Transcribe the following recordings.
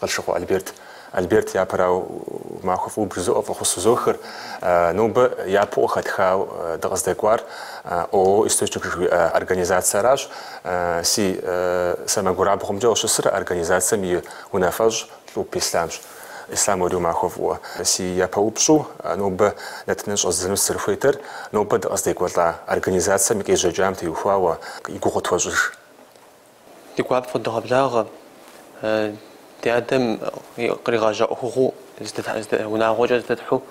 Къылшыкъуэ Альберт, Альберт япэрау махуэ фӏыуэ бжызоӏэ фӏэхъус узохыр, нобэ япэу къыхэтхау дыкъыздэкӏуар ООО Источник жыхуиӏэ организациеращ. Си сэмэгурабгъумкӏэ къыщысыр организацием и унафэщӏ Лӏупӏ Ислъамщ. Ислъам уэри умахуэ фӏыуэ. Си япэ упщӏэу, нобэ нэтыныр щӏэздзэну сызэрыхуейтэр, нобэ дыкъыздекӏуэлӏа организацием и къежьэкӏам теухуауэ, и гугъу тхуэщӏыж. Ди гуапэу фыдогъэблагъэ ди адэм къригъэжьа ӏуэхугъуэу унагъуэкӏэ зэдетхьу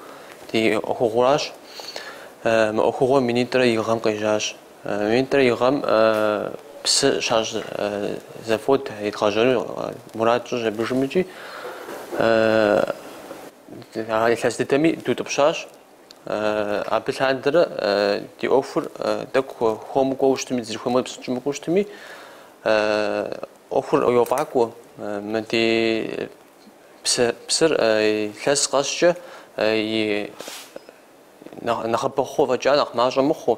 ди ӏуэхугъуэращ. Мы ӏуэхугъуэр минитӏрэ и гъэм къежьащ. Минитӏрэ и гъэм псы щащӏ завод едгъэжьэну мурад тщӏыщ абы жымыкӏи, илъэс дыдэми дутӏыпщащ. Абы лъандэрэ ди ӏуэхур тӏэкӏу хуэму кӏуэу щытми, дызэрыхуеймэ псынщӏэу мыкӏуэу щытми, ӏуэхур йофӏакӏуэ. Мы ди псыр илъэс къэскӏэ и нэхъыбэ хъу фӏэкӏа нэхъ мащӏэ мыхъуу,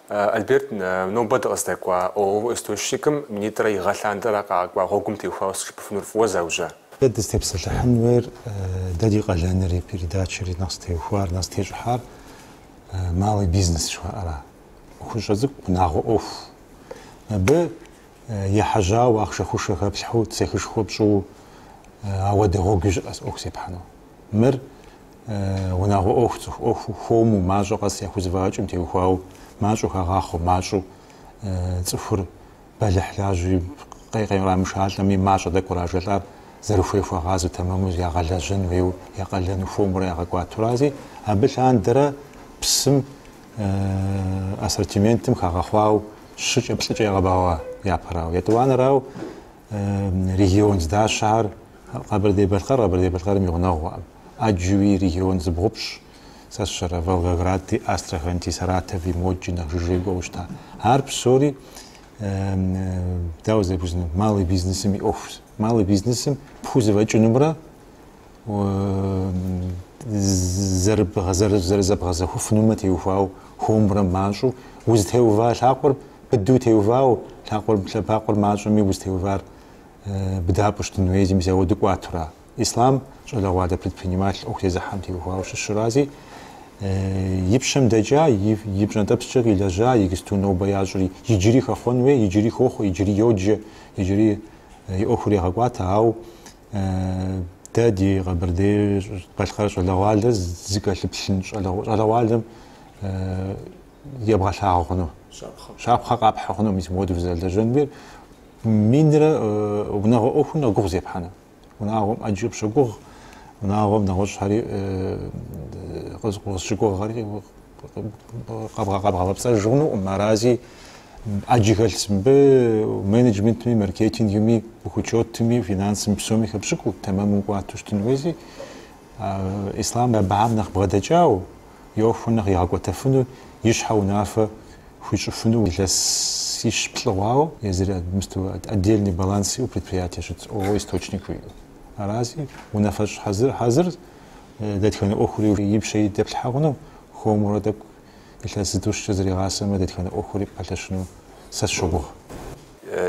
Альберт, нобэ дыкъыздэкӏуа ООО Источникым минитӏрэ и гъэ лъандэрэ къакӏуа гъуэгум теухуауэ сыт жыпӏэфынур фӏыуэ заужьа. Дэ дызытепсэлъыхьын хуейр, дэ ди къалэнри, передачэри нэхъ зытеухуар, нэхъ зытещӏыхьар малый бизнес жыхуаӏэра, ӏуэхущӏэ цӏыкӏу, унагъуэ ӏуэху. Абы ехьэжьауэ, ахъшэшхуэ хэплъхьэу, цехышхуэ пщӏыу ауэдэ гъуэгуи щыӏэс ӏуэху зепхьэну. Мыр Унагъуэ ӏуэху, цӏыху ӏуэхуу, хуэму, мащӏэ къэс яхузэфӏэкӏым теухуауэ, мащӏэу хагъахъуэу, мащӏэу цӏыхур бэлыхьлажьи, кърамышалӏэми, мащӏэ тӏэкӏу кърашэлӏар, зэрыхуей хуагъасэу, тэмэму ягъэлэжьэн хуейуэ, я къалэну хуэмурэ ягъэкӏуатурази, абы лъандэрэ псым, ассортиментым хагъэхъуау щыкӏэ, плӏыкӏэ ягъэбэгъуа япэрауэ, етӏуанэрауэ. Регион здащэхэр Къэбэрдей-Балъкъэр Къэбэрдей-Балъкъэрым и гъунэгъухэм. Ӏэджэуи регион зыбгъупщӏ. Сэ сщӏэрэ, Волгогради, Астрахани, Саратови модкӏи нэхъ жыжьэ кӏуэуэ щыта. Ар псори, дауэ зэпыщӏынур, малый бизнесым и ӏуэхущ. Малый бизнесым пхузэфӏэкӏынумрэ зэрызэбгъэзэхуэфынум теухуау хуэмурэ мащӏэу, узытеува лъакъуэр быдэу теувау, лъакъуэр, лъэбакъуэр мащӏэми узытеувар быдапӏэу щытын хуей, зим зауэ дыкӏуатура? Ислъам щӏалэгъуалэ предприниматель ӏуэху зезыхьэм теухуауэ щыщрази, и пщэм дэкӏа, и пщӏэнтӏэпскӏэ къилэжьа, иджыпсту нобэ ящӏри, иджыри хэхъуэн хуей, иджыри хохъуэ, иджыри йоджэ, иджыри и ӏуэхур егъэкӏуатэ, ауэ Дэ ди Къэбэрдей-Балъкъэр щӏалэгъуалэ зыкӏэлъыплъын щӏалэгъуалэм ебгъэлъагъуэ хъуну. Щапхъэ къапхьэ хъуну мис мыуэду фызэрылэжьэнур. Минрэ унагъуэ ӏуэху нэхъ гугъу зепхьэну. Унагъуэм ӏэджи къыпщогугъ, унагъуэм нэгъуэщӏхэри къыпщыгугъхэри къэбгъэпцӏэж хъунукъым. Арази Аджигэлс мыбы менеджментми, маркетингми, бухучетми, финансми псоми хэпщӏыкӏыу тэмэму кӏуату щытын хуейзи, Ислъам абыхьэм нэхъ бгъэдэкӏау, и ӏуэху нэхъ игъэкӏуэтэфыну, и щхьэ унафэ хуищӏыфыну илъэсищ-плӏы хъуау езыр мысту отдельный баланс иӏэу предприятие щытщ, ООО Источник жиӏэу. Арази унафэщӏ хьэзыр, дэтхэнэ ӏуэхури и пщэ дэплъхьэ хъуну, хуэмурэ тӏэкӏу илъэс зытӏущкӏэ зэригъасэмэ, дэтхэнэ ӏуэхури пэлъэщыну сэ сщогугъ.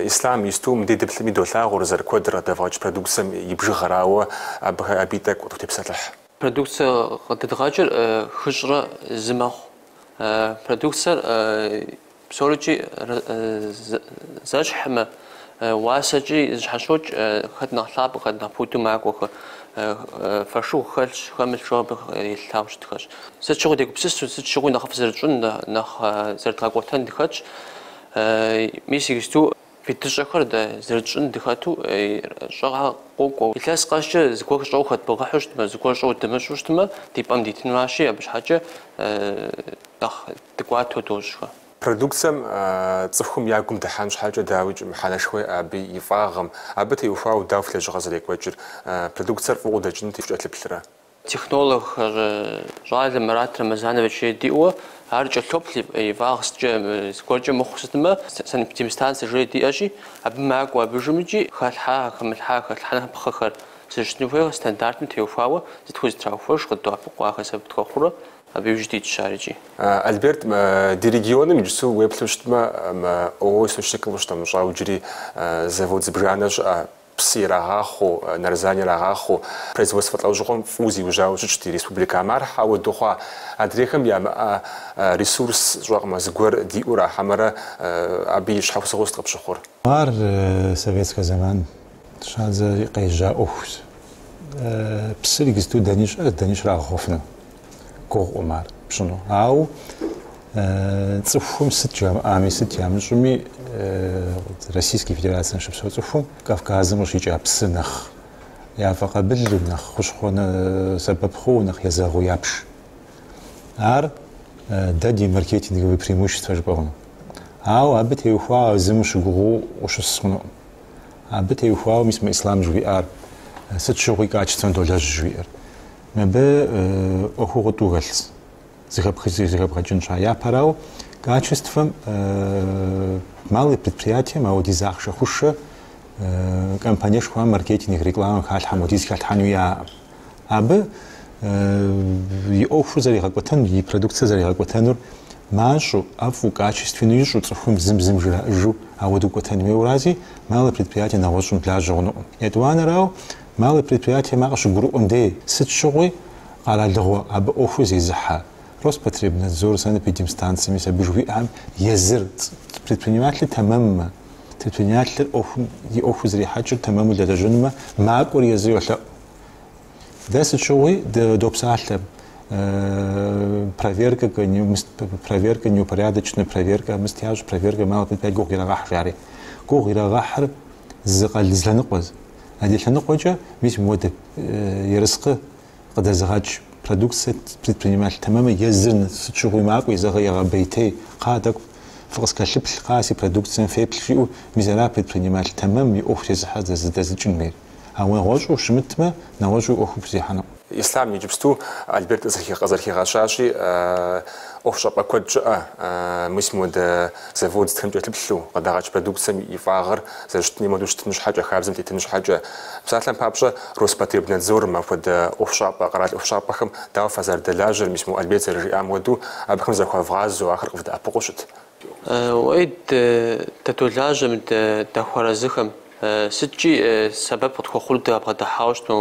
Ислъам исту мыдей дыплъыми долъагъур зэрыкуэдр къыдэвгъэкӏ продукцэм и бжыгъэрауэ, абыхэ абий тӏэкӏу къытепсэлъыхь. Продукцэ къыдэдгъэкӏыр хыщӏрэ зы мэхъу. Продукцэр Псорыкӏи зэщхьмэ, уасэкӏи зэщхьэщокӏ хэт нэхъ лъапӏэ, хэт нэхъ пуду макӏуэхэр. Фошыгъу хэлъщ, хэмылъщ, абы елъытауэ щытхэщ. Сыт щыгъуи дегупсысу, сыт щыгъуи нэхъыфӏ зэрытщӏын, нэхъ зэрыдгъэкӏуэтэн дыхэтщ. Мис иджыпсту Вид щӏэхэр дэ зэрытщӏын дыхэту щӏэгъэ къокӏуэу, илъэс къэскӏэ зыгуэр щӏэу хэдмыгъэхьу щытмэ, зыгуэр щӏэу дымыщӏу щытмэ, ди пӏэм дитынуащи, абы щхьэкӏэ нэхъ дыкӏуатэу дощӏхэ. Продукцэм цӏыхум я гум дыхьэн щхьэкӏэ дауикӏ мыхьэнэшхуэ иӏэ абы и фӏагъым, абы теухуауэ дауэ фи лэжьыгъэр зэрекӏуэкӏыр, продукцэр фӏы хъуу дэкӏыну текӏэлъыплърэ? Технолог щӏалэ Мурат Рэмэзанович жери диӏэу ар кӏэлъоплъ и фӏагъ сыткӏэ зыгуэркӏэ мыхъу сытмэ, санэпидемстанцэ жери диӏэщи, абы макӏуэ, абдежым икӏи хэлъхьа, хэмылъхьа, хэлъхьэныпхъэхэр зэрыщытыну хуейр стандартым теухуауэ зытхузэтраухуэж, къыддоӏэпыкъу ахэр сэбэп тхуэхъурэ, абы иужь дитщ ар икӏи. Альберт, ди регионым иджыпсу уеплъу щытмэ, мы ООО Источникым къыщынэмыщӏа иджыри завод зыбжанэ щыӏэ, псы ирагъахъуэу, нарзан ирагъахъуэу, производствэ лӏэужьыгъуэм фӏыуэ зиужьауэ щытщ ди республикэм. Ар хьэуэдэу хъуа? Адрейхэм ямыӏэ ресурс сщӏэкъым, зыгуэр диӏэу ара хьэмэрэ абы и щхьэусыгъуэу сыт къыпщыхъур? Ар советскэ зэман щӏадзэри къежьа ӏуэхущ. Псыр иджыпсту дэни щыӏэ, дэни щрагъэхъуэфыну. гугъуӏым ар пщӏыну. Ауэ цӏыхум сыт жамыӏами, сыт ямыщӏыми, Российский Федерацием щыпсэу цӏыхум Кавказым къыщикӏа псы нэхъ яфӏэкъабылу, нэхъ хущхъуэ сэбэп хъууэ, нэхъ езэгъыу ябж. Ар дэ ди маркетинговые преимущества жыпӏэ хъуну. Ауэ абы теухуауэ зым ущыгугъуу ущыс хъунукъым. Абы теухуауэ, мис мы Ислъам жыхуиӏар сыт щыгъуи качествэм долэжь жыхуиӏэр. Мыбы ӏуэхугъуэ тӏу хэлъс, зэхэбгъэкӏын щхьа. Япэрауэ, качествэм малый предприятием ауэдиз ахъшэ хъушэ компаниешхуэм маркетинг, рекламэм халъхьэм хуэдиз халъхьэну яӏэкъым. Абы и ӏуэхур зэригъэкӏуэтэнур, и продукцэр зэригъэкӏуэтэнур мащӏэу, ӏэфӏу, качествену ищӏу, цӏыхум зым-зым жраӏыжу ауэдэу кӏуэтэн хуейуэрази, малый предприятие нэгъуэщӏым лажьэ хъунукъым. Етӏуанэрауэ, Малый предприятием ар къыщыгурыӏуэм дей, сыт щыгъуи къэралыгъуэ абы ӏуэхур зезыхьэ Роспотребнадзор, санэпидемстанцэ, мис абы жыхуиӏэхэм езыр, предпринимателыр тэмэммэ, предпринимателыр ӏуэхум и ӏуэхур зэрихьэкӏыр тэмэму лэжьэнумэ, макӏуэр езыр йолъэӏу. Дэ сыт щыгъуи допсалъэ проверкэ, проверкэ, неупорядоченная проверкэ, мыст ящӏ, проверкэ малый предприятие гугъу ирагъэхь, жари. Гугъу ирагъэхьыр зы къэ зы лъэныкъуэз. Адрей лъэныкъуэкӏэ мис мыуэдэ ерыскъы къыдэзыгъэкӏ продукцэ предприниматель тэмэммэ езыр сыт щыгъуи макӏуи, зэгъэ егъэбейтей, кхъа тӏэкӏу фыкъыскэлъыплъ, кхъа си продукцэм феплъ жиӏэу, мис ара предприниматель тэмэм и ӏуэху зезыхьэ здэзыдзэкӏын хуейр. Ауэ нэгъуэщӏу щымытмэ, нэгъуэщӏу и ӏуэхур пхузехьэну. Ислъам иджыпсту Альберт къызэрыхигъэщащи, ӏуэхущӏапӏэ куэд щыӏэ мис модэ завод сытхэм кӏэлъыплъу, къыдагъэкӏ продукцэм и фӏагъыр зэрыщытын хуейм хуэдэу щытын щхьэкӏэ, хабзэм тетын щхьэкӏэ. Псалъэм папщӏэ, Роспотребнадзорым апхуэдэ ӏуэхущӏапӏэ, къэрал ӏуэхущӏапӏэхэм дауэ фазэрыдэлажьэр, мис мо Альберт зэрыжиӏам хуэдэу, абыхэм захуэвгъазэу ахэр къывдэӏэпыкъуу щыт Уэи, дадолажьэм, дахуэарэзыхэм. Сыткӏи сэбэп къытхуэхъур дабгъэдыхьауэ щытмэ,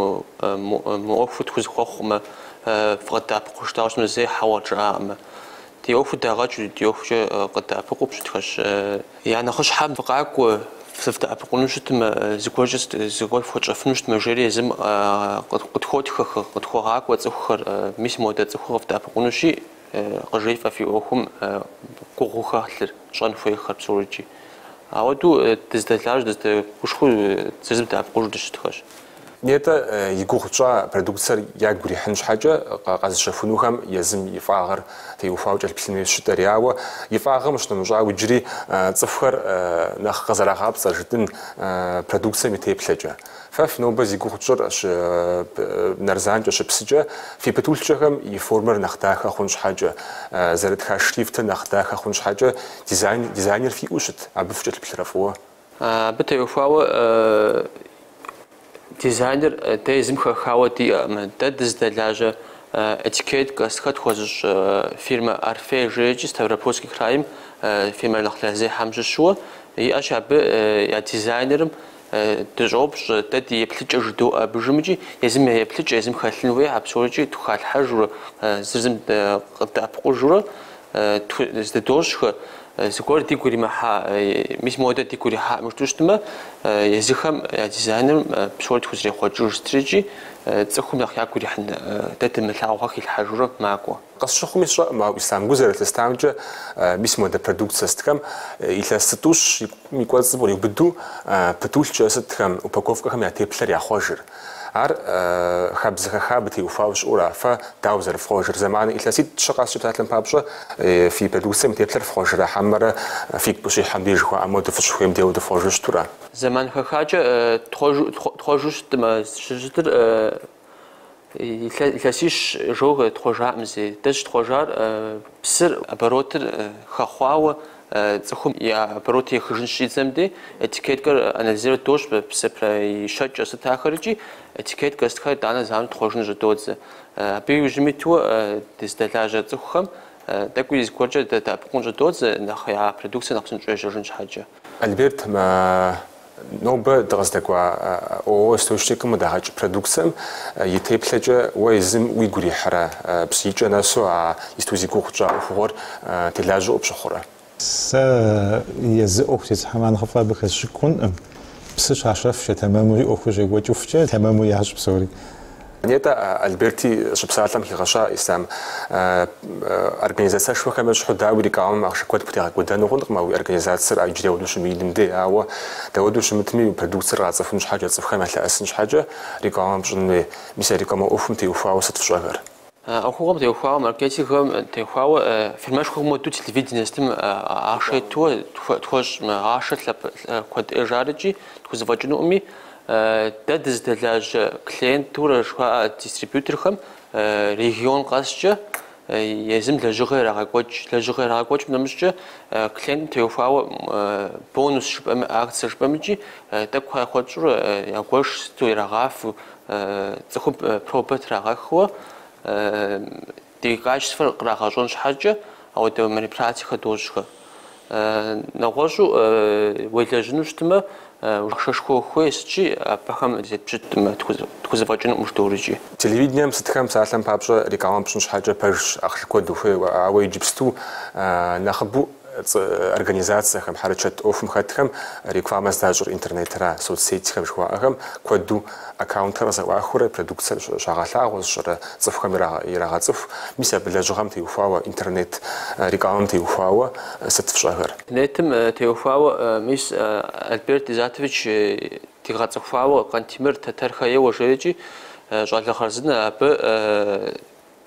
мы ӏуэхур тхузэхуэхъукъым, фыкъыддэӏэпыкъу жытӏауэ щытмэ зэи хьэуэ къыджаӏакъымэ. Ди ӏуэхур дагъэкӏ, ди ӏуэхукӏэ къыддэӏэпыкъуу щытхэщ. Я нэхъыщхьэм фыкъакӏуэ, дывдэӏэпыкъуну щытмэ, зыгуэркӏэ фхуэтщӏэфыну щытмэ, жери езым къытхуотхэ, къытхуегъакӏуэ цӏыхухэр, мис модэ цӏыхур къывдэӏэпыкъуну щиӏ, Къыджефӏэ фи ӏуэхум гугъуу хэлъыр, тщӏэн хуейхэр псори. Ауэдэу дыздэлажьэу, дыздэгушхуэу зыр зым дэӏэпыкъужу дыщытхэщ. Нетӏэ и гугъу тщӏа продукцэр ягу ирихьын щхьэкӏэ, къэзыщэхунухэм езым и фӏагъыр теухуауэ кӏэлъыплъын хуей жытӏэри. Ауэ и фӏагъым щынэмыщӏауэ, иджыри цӏыхухэр нэхъ къызэрагъапцӏэр жытӏын продукцэм и теплъэкӏэ. Фэ фи нобэ зи гугъу тщӏыр щынарзанкӏэ, щыпсыкӏэ, фи пытулъкӏэхэм и формэр нэхъ дахэ хъун щхьэкӏэ, зэрытха шрифтыр нэхъ дахэ хъун щхьэкӏэ дизайн дизайнер фиӏэу щыт, абы фыкӏэлъыплърэ фӏыуэ? Абы теухуауэ дизайнер дэ езым хэхауэ диӏэкъым. Дэ дызыдэлажьэ этикеткэ сытхэр тхуэзыщӏ фирмэ Орфей жеикӏи Ставропольский крайм фирмэ нэхъ лъэрызехьэм щыщуэ иӏэщ абы я дизайнерым Дыщӏоупщӏэ, дэ ди еплъыкӏэр жыдоӏэ абы иужьымикӏи, езым я еплъыкӏэ, езым хэлъын хуей а псорикӏи тхухалъхьэжурэ, зыр зым къыддэӏэпыкъужурэ зэдыдощӏхэ, зыгуэр дигу иримыхьа, мис модэ дигу ирихьакъым жытӏэу щытмэ, езыхэм я дизайнерым псори тхузэрехъуэкӏыж сытрикӏи, цӏыхум нэхъ ягу ирихьын, дэ дымылъагъухэр хилъхьэжурэ макӏуэ. Къысщыхъуми сщӏэкъым, ауэ Ислъам гу зэрылъыстамкӏэ, мис модэ продукцэ сытхэм илъэс зытӏущым и кӏуэцӏым къриубыду пытулъкӏэ сытхэм, упаковкэхэм я теплъэр яхъуэжыр. Ар хабзэ хэха абы теухуауэ щыӏэу ара, фэ дауэ зэрыфхъуэжыр? Зэман илъэситӏ-щы къэскӏэ, псалъэм папщӏэ, фи продукцэм и теплъэр фхъуэжрэ хьэмэрэ фигу къыщихьэм деж жыхуаӏэ моду фыщыхуейм дей уэду фхъуэжу щыту ара? Зэман хэхакӏэ тхъуэжу щытмэ, щыщытыр Илъэсищ иджы тхъуэжаӏым зэи. Дэ щытхъуэжар псыр оборотыр хэхъуауэ цӏыхум и оборот ехыжын щӏидзэм дей этикеткэр анализировать дощӏ псыр прэ и щэкӏэр сыт ахэр икӏи этикеткэ сытхэр итӏанэ зэуэ тхъуэжыну щӏыдодзэ. Абы иужьым иту дыздэлажьэ цӏыхухэм тӏэкӏуи зыгуэркӏэ дадэӏэпыкъун щӏыдодзэ нэхъ я продукцэр нэхъ псынщӏэу ежьэжын щхьэкӏэ. Альберт, нобэ дыкъыздэкӏуа ООО Источникым къыдагъэкӏ продукцэм и теплъэкӏэ уэ езым уигу ирихьэрэ? Псы икӏэ нэсу а исту зи гугъу тщӏа ӏуэхугъуэр телажьэу къыпщыхъурэ? Сэ езы ӏуэху зезыхьэм нэхъыфӏу абы хэсщӏыкӏыу хъункъым. Псы щащэфкӏэ, тэмэмури ӏуэхур щекӏуэкӏыфкӏэ, тэмэму ящӏ псори. Нетӏэ, Альберти щыпсалъэм хигъэща Ислъам, организацэшхуэхэм ещхьу, дауи, рекламэм ахъшэ куэд пхутегъэкӏуэдэну хъункъым а уи организацэр а иджыри уэду щымыиным дей. Ауэ, дауэду щымытми, уи продукцэр къацӏыхун щхьэкӏэ, цӏыхухэм ялъэӏэсын щхьэкӏэ рекламэ пщӏын хуей. Мис а рекламэ ӏуэхум теухуауэ сыт фщӏэхэр? А ӏуэхугъуэм теухуауэ, маркетингхэм теухуауэ, фирмэшхуэхэм моду телевиденэ сытым ахъшэ итууэ тхуэщӏ, ахъшэ лъэпкъ куэд ӏейщ арикӏи тхузэфӏэкӏынукъыми, Дэ дызыдэлажьэ клиентурэ жыхуаӏэ дистрибьюторхэм регион къэскӏэ езым лэжьыгъэ ирагъэкӏуэкӏ. Лэжьыгъэ ирагъэкӏуэкӏым нэмыщӏкӏэ клиентым теухуауэ бонус жыпӏэми, акцэ жыпӏэмикӏи тӏэкӏу яхуэтщӏурэ ягуэш сыту ирагъафэу цӏыхум пробэ трагъэхыуэ Ди качествэр кърагъэщӏэн щхьэкӏэ ауэдэ мероприятиехэр дощӏхэ. Нэгъуэщӏу уелэжьыну щытмэ, ахъшэшхуэ хуейщ икӏи абыхэм зетпщытмэ, тхузэфӏэкӏынукъым жыдоӏэрикӏи. Телевидением сытхэм псалъэм папщӏэ рекламэ пщӏын щхьэкӏэ пэжщ, ахъшэ куэд ухуей, ауэ иджыпсту нэхъыбэу Цӏэ организацэхэм, хьэрычэт ӏуэхум хэтхэм рекламэ здащӏыр интернетра, соцсетьхэм жыхуаӏэхэм куэду аккаунтхэр къызэӏуахыурэ, продукцэр щагъэлъагъуэ зыщӏырэ цӏыхухэм ирагъэцӏыху. Мис абы лэжьыгъэм теухуауэ, интернет рекламэм теухуауэ сыт фщӏэхэр? Интернетым теухуауэ, мис Альберт Изатович дигъэцӏыхуауэ, Къантемыр Тэтэрхэ ейуэ жерикӏи щӏалэ хъарзынэ абы.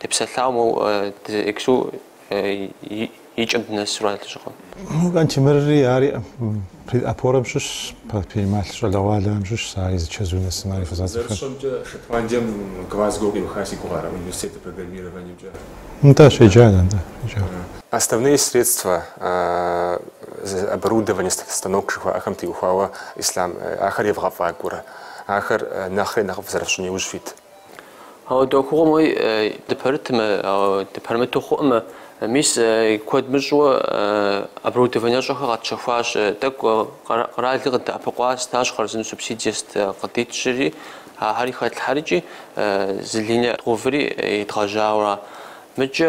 депсэлъауэ моуэ ексу икӏэм дынэсу ара лэжьыгъэм. Къантемырри ари пред Опорэм щыщ, предприниматель щӏалэгъуалэхэм щыщ, ари зы чэзу нэсым ари фызацӏэхэр. Зэрысщӏэмкӏэ, Шотландием Глазго къиуха си гугъэ ара университетыр программированиемкӏэ? Нтӏэ, щеджа, нтӏэ, щеджа. Основные средства, оборудование, станок жыхуаӏэхэм теухуауэ Ислам ахэр евгъэфӏакӏуэрэ? Ахэр нэхъри нэхъыфӏ зэрыфщӏын иужь фит Ауэдэ ӏуэхугъуэм уей дыпэрытмэ, ауэ дыпэрымыту хъуӏымэ, мис куэд мыщӏэуэ оборудованиэщӏэхэр къэтщэхуащ. Тӏэкӏу къэралри къыдэӏэпыкъуа стащ хъарзынэу субсидие сыт къыдитщӏри, ахэри хэтлъхьэрикӏи, зы линэ дгъэуври едгъэжьауэ ара. Мыкӏэ.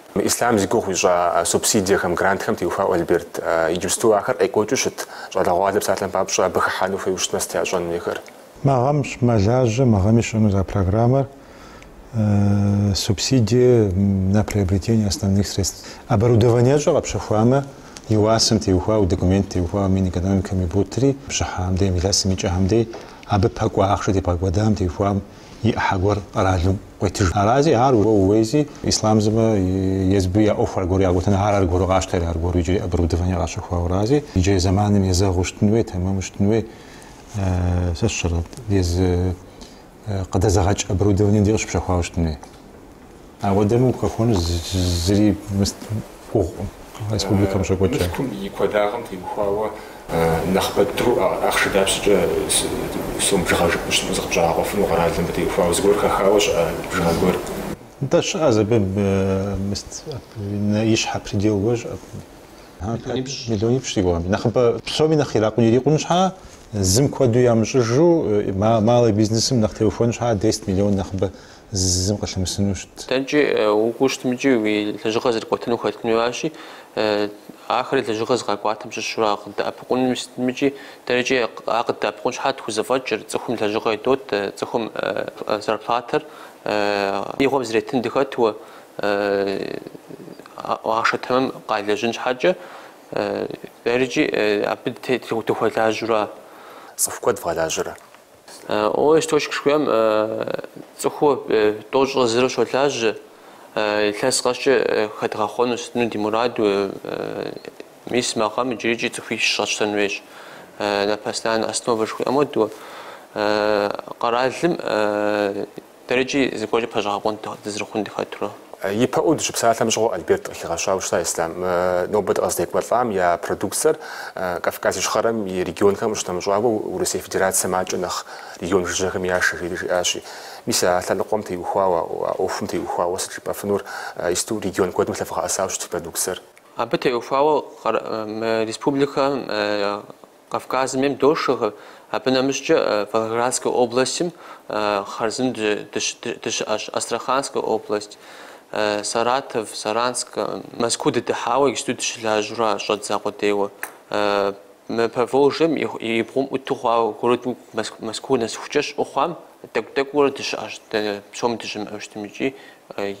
Мы Ислъам зи гугъу ищӏа субсидиехэм, грантхэм теухуауэ Альберт. Иджыпсту ахэр къекӏуэкӏыу щыт щӏалэгъуалэр псалъэм папщӏэ абы хыхьэну хуейуэ щытмэ, сыт ящӏэн хуейхэр? Мы гъэм щыӏэ, мэлажьэ, мы гъэми щыӏэнуз а программэр субсидие на приобретение основных средств. Оборудованиещӏэ къэпщэхуамэ, и уасэм теухуауэ, документ теухуауэ Минэкономикэм иботри, бжьыхьэхэм дей, илъэсым икӏэхэм дей, абы пэкӏуэ ахъшэ тебгъэкӏуэдам теухуауэ, и ӏыхьэ гуэр къэралым къуетыж. Арази ар уэ ууейзи, Ислам сымэ езбы я ӏуэху аргуэру ягъэкӏуэтэну, ар аргуэру къащтэри, аргуэру иджыри оборудование къащэхуауэрази, иджырей зэманым езэгъыу щытын уей, тэмэму щытын уей, сэ сщӏэрэ, езы къыдэзыгъэкӏ оборудованием дей къыщыпщэхуауэ щытын уей. Ауэдэмэ ухэхуэну зыри мыст гугъукъым республикэм щокӏуэкӏ. Мылъкум и куэдагъым теухуауэ нэхъыбэ дыдэу ахъшэ дапщэкӏэ сом бжыгъэ жыпӏэу щытмэ зыкъыпщӏагъэкъуэфыну къэралым мыбы теухуауэ зыгуэр хэхауэ щыӏэ бжыгъэ гуэр? Нтӏэ, щыӏэз абы мыст ищхьэ предел гуэр щыӏэ. Миллионипщӏ си гугъэми. Нэхъыбэ псоми нэхъ иракъу, ирикъун щхьэ, зым куэду ямыщӏыжу малый бизнесым нэхъ теухуэн щхьэ, десять миллион нэхъыбэ зызым къыщымысыну щытт. Дэнкӏи укӏуэу щытмикӏи уи лэжьыгъэр зэрыкӏуэтыну ухэтыну аращи, ахэри лэжьыгъэр зыгъэкӏуатэм щыщу ар къыддэӏэпыкъуну щытымыкӏи, дэрэкӏи ар къыддэӏэпыкъун щхьэ тхузэфӏэкӏыр, цӏыхум лэжьыгъэ идот, цӏыхум зарплатэр игъуэм зретын дыхэтуэ, ахъшэ тэмэм къалэжьын щхьэкӏэ, дэрэкӏи абы дыхуэлажьэура? Цӏыху куэд вгъэлажьэрэ? О источник жыхуиӏэм цӏыхуу тӏощӏрэ зыру щолажьэ, илъэс къэскӏэ хэдгъэхъуэну сытыну ди мураду, мис мы гъэм иджырикӏи цӏыхуищ щӏэтщтэн хуейщ, на постоянной основе жыхуиӏэм хуэдэу, къэралым Дэрэкӏи зыгуэркӏэ пэщӏэгъэкъуэн дызэрыхъун дыхэтурэ. Ипэӏуу дыщыпсалъэм щыгъуэ Альберт къыхигъэщауэ щыта Ислъам нобэ дыкъыздекӏуэлӏам я продукцэр Кавказ Ищхъэрэм и регионхэм къыщынэмыщӏауэ Урысей Федерацэм акӏэ нэхъ регион жыжьэхэм яшэ, жери жиӏащи. Мис а лъэныкъуэм теухуауэ, а ӏуэхум теухуауэ сыт жыпӏэфынур, иджыпсту регион куэдым лъэвгъэӏэсауэ щыт продукцэр. Абы теухуауэ мы республикэм Кавказым ейм дошэхэр, абы нэмыщӏкӏэ Волгоградскэ областым хъарзынэу дыщыӏэщ Астраханскэ область, Саратов, Саранск, Мэзкуу дыдыхьауэ иджыпсту дыщылажьэура щӏэдза къудейуэ. Мы Поволжьем и бгъум ӏуту хъуауэ городым Мэзкуу нэсыхукӏэ щыӏэу хъуам тӏэкӏу-тӏэкӏуурэ дыщыӏэщ, дэнэ псоми дыщымыӏэу щытмикӏи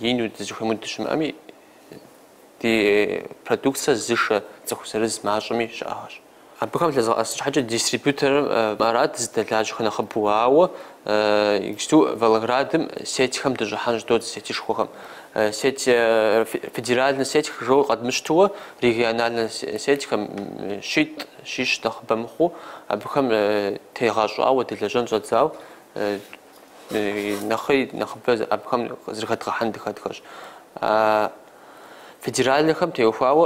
ину дызыхуеймэ дыщымыӏэми, ди продукцэ зышэ цӏыху зырыз мащӏэми щыӏэхэщ. Абыхэм лъэзыгъэӏэс щхьэкӏэ дистрибьюторым арат зыдэлажьэхэр нэхъыбэу, ауэ иджыпсту Волгоградым сетьхэм дыщӏыхьэн щӏыдодзэ сетышхуэхэм. Сеть, федеральнэ сеть жиӏэу къэдмыщтыуэ, региональнэ сетьхэм щитӏ, щищ нэхъыбэ мыхъуу, абыхэм тегъэщӏауэ дэлэжьэн щӏэддзауэ, нэхъри нэхъыбэ абыхэм зэрыхэдгъэхьэн дыхэтхэщ. А федеральнэхэм теухуауэ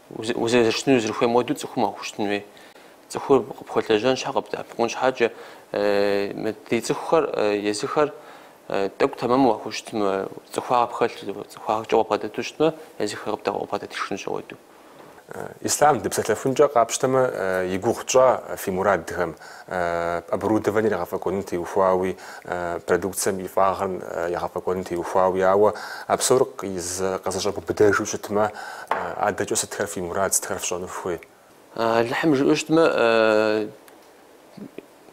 Узэрыщытыну зэрыхуейм хуэдэу цӏыхум уахущытын хуей. Цӏыхур къыпхуэлэжьэн щхьэ къыбдэӏэпыкъун щхьэкӏэ, мы ди цӏыхухэр езыхэр тӏэкӏу тэмэму уахущытмэ, цӏыхуагъэ пхэлъу, цӏыхуагъэкӏэ уабгъэдэту щытмэ, езыхэр къыбдэкъуэбгъэдэтышхынущ ауэдэу. Ислъам дыпсэлъэфынкӏэ къапщтэмэ, и гугъу тщӏа фи мурадхэм? оборудованиер егъэфӏэкӏуэным теухуауи, продукцэм и фӏагъыр егъэфӏэкӏуэным теухуауи, ауэ а псор къызэщӏэбубыдэжу щытмэ, адэкӏэ сытхэр фи мурад, сытхэр фщӏэну фыхуей? Алыхьым жиӏэу щытмэ,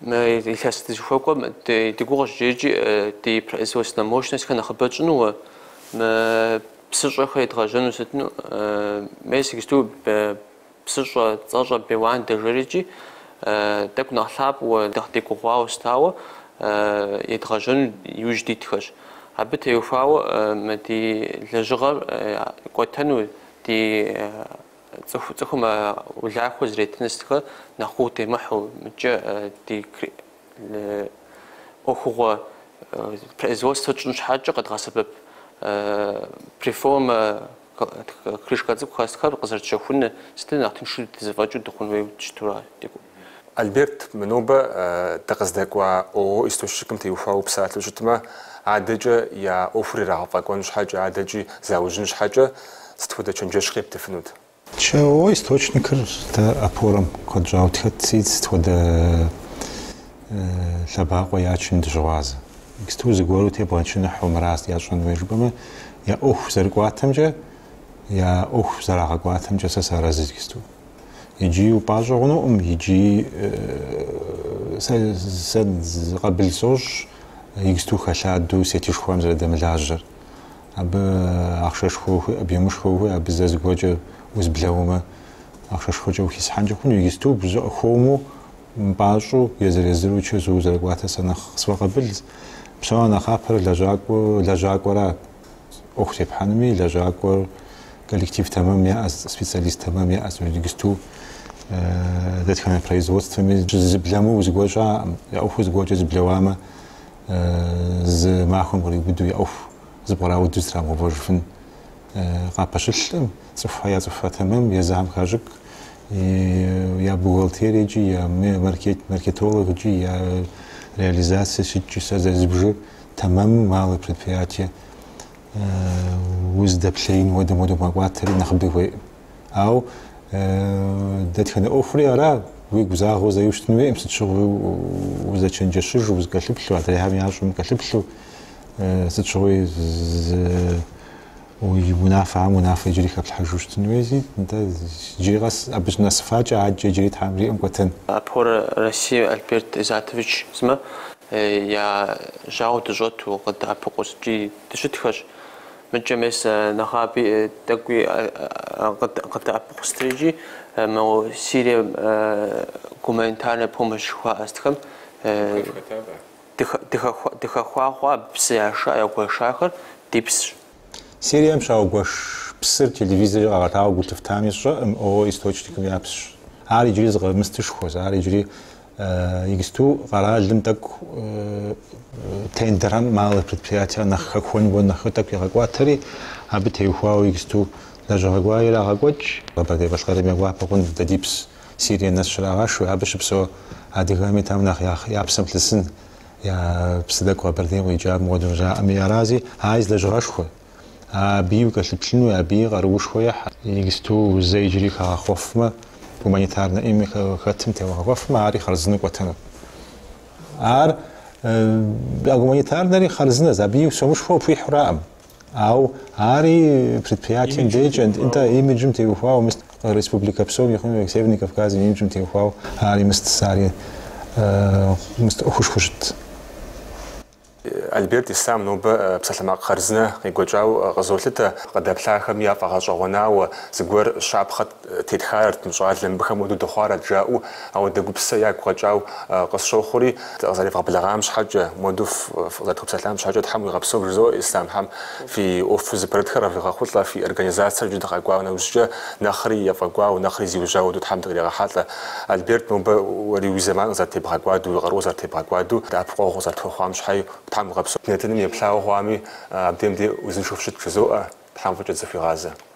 мы илъэс дызыхуэкӏуэм ди гугъущ иджырикӏи ди производственнэ мощностьхэр нэхъыбэ тщӏыну, мы псыщӏэхэр едгъэжьэну сытыну. Мес иджыпсту Псыщӏэ цӏэщӏэ Беуан дэжэрыкӏи, тӏэкӏу нэхъ лъапӏэу, нэхъ дегугъуауэ сытауэ едгъэжьэну иужь дитхэщ. Абы теухуауэ мы ди лэжьыгъэр кӏуэтэну, ди цӏыху цӏыхум улахуэ зэреттын сытхэр нэхъ гугъу демыхьу, мыдкӏэ ди ӏуэхугъуэ производствэ тщӏын щхьэкӏэ къэдгъэсэбэп преформэ. Крышкэ цӏыкӏухэ сытхэр къызэрытщэхун сытыр нэхъ тыншу тхузэфӏэкӏыу дыхъун хуей дыщыту ар декӏу. Альберт, мы нобэ дыкъыздэкӏуа ООО Источникым теухуауэ упсалъэу щытмэ, адэкӏэ я ӏуэхур ирагъэфӏэкӏуэн щхьэкӏэ, адэкӏи заужьын щхьэкӏэ сыт хуэдэ чэнджэщ къептыфынут? ООО Источникыр дэ Опорэм куэд щӏауэ тхэтси, сыт хуэдэ лъэбакъуэ ячын дыщыгъуазэ. Иджыпсту зыгуэру тебгъэчыныхьу мырас ящӏэн хуей жыпӏэмэ, я ӏуэху зэрыкӏуатэмкӏэ, я ӏуэху зэрагъэкӏуатэмкӏэ сэ сарэзы иджыпсту. Иджыи упӏащӏэ хъунукъым, иджыи сэ сэ къабыл сощӏ иджыпсту хэлъадэу сетышхуэм зэрыдэмылажьэр. Абы ахъшэшхуэ ухуей, объёмышхуэ ухуей, абы зэ зыгуэркӏэ узблэумэ, ахъшэшхуэкӏэ ухисхьэнкӏэ хъуну, иджыпсту зыпшыӏэу хуэму, Мыпӏащӏэу, езыр-езыру чэзууэ зэрыкӏуатэ сэ нэхъ къысфӏэкъэбылз. Псом я нэхъапэр лэжьакӏуэ, лэжьакӏуэра ӏуэху тепхьэнуми, лэжьакӏуэр коллектив тэмэм яӏэ, специалист тэмэм яӏэзи, иджыпсту дэтхэнэ производствэми зыблэмыу зыгуэр щыӏэкъым. Я ӏуэхур зыгуэркӏэ зыблэуамэ, зы махуэм къриубыду я ӏуэху зэпкърауду зэтрамыгъэувэжыфын къапэщылъкъым, цӏыхухэр я цӏыхухэр тэмэм, я замхащӏык, я бухгалтериекӏи, я маркетологкӏи, я реализацие сыткӏи, сэ зэрызбжыр тэмэму малое предприятие уздэплъеин хуэдэм хуэдэу мэкӏуатэри нэхъыби хуейкъым. Ау дэтхэнэ ӏуэхури ара уигу загъэу зэи ущытын хуейкъым, сыт щыгъуи узэчэнджэщыжу, узыкӏэлъыплъу, адрейхэм ящӏэм укӏэлъыплъу, сыт щыгъуи Унафэ, ам унафэ иджыри хэплъхьэжу щытын хуейзи, нтӏэ, иджыри къэс абы щынэсыфакӏэ адэкӏэ иджыри Тхьэм жиӏэм кӏуэтэн. Опорэ России Альберт Изатович сымэ я жьауэ дыщӏэту къыддэӏэпыкъуу сыткӏи дыщытхэщ. Мыдкӏэ мес нэгъаби тӏэкӏуи къыддэӏэпыкъуу сытрикӏи мо Сирием гуманитарная помощь жыхуаӏэ сытхэм. Дыхэхуагъуэ абы псы яша, ягуэшахэр ди псщ. Сирием щаугуэш псыр телевизоркӏэ къагъэтауэ гу лъыфтами сщӏэкъым, ООО источникым я псщ. Ар иджыри зы къэмыстышхуэз, ар иджыри иджыпсту къэралым тӏэкӏу тендерхэм малые предприятия нэхъ хэхуэну хуэдэу нэхъ тӏэкӏу ягъэкӏуатэри, абы теухуауэ иджыпсту лэжьыгъэ гуэр ирагъэкӏуэкӏ. Къэбэрдей-Балъкъэрым я гуапэ хъунт дэ ди пс. Сирие нэс щрагъэшу, абы щыпсэу адыгэхэми тӏэм нэхъ я я псэм лъысын, я псы тӏэкӏу Къэбэрдейм къикӏа муэду жаӏэми арази, ари зы лэжьыгъэшхуэ, абыи укӏэлъыплъыну, абыи къаруушхуэ ехь. Иджыпсту зэ иджыри хэгъэхъуэфмэ, гуманитарнэ ӏейми хэтым тегъэхъуэфмэ, ари хъарзынэу кӏуэтэнут. Ар а гуманитарнэри хъарзынэз, абыи сомышхуэ хуихьураӏым. Ау ари предприятием декӏэ, нтӏэ, имиджым теухуауэ мыст, республикэ псом и хъуми, Северный Кавказым и имиджым теухуауэ ари мыст, ари мыст ӏуэхушхуэу щытт. Альберт, Ислъам, нобэ псалъэмакъ хъарзынэ къекӏуэкӏауэ къызолъытэ, къыдэплъахэм я фӏэгъэщӏэгъуэнауэ зыгуэр щапхъэ. Тетхарэт мы щӏалэм, мыбыхэм хуэду дыхъуарэт жаӏэу, ауэдэ гупсысэ ягу къэкӏау къысщохъури, дыкъызэревгъэблэгъам щхьэкӏэ, муэду фыкъызэрытхуэпсэлъам щхьэкӏэ Тхьэм уигъэпсэу жызоӏэ Ислъам, Тхьэм фи ӏуэху зыпэрытхэр къывигъэхъулӏэ, фи организацэр иджы дыкъэкӏуа нэужькӏэ нэхъри ефӏэкӏуау, нэхъри зиужьау хуэду Тхьэм дыкъригъэхьэлӏэ. Альберт, нобэ уэри уи зэман къызэрытебгъэкӏуаду, уи къару къызэрытебгъэкӏуаду, дэӏэпыкъуэгъу укъызэрытхуэхъуам щхьэи Тхьэм уигъэпсэу. Ди нэтыным еплъауэ хъуами, абдем дей узыншэу фыщыт жызоӏэ, Тхьэм фӏыкӏэ дызэхуигъазэ.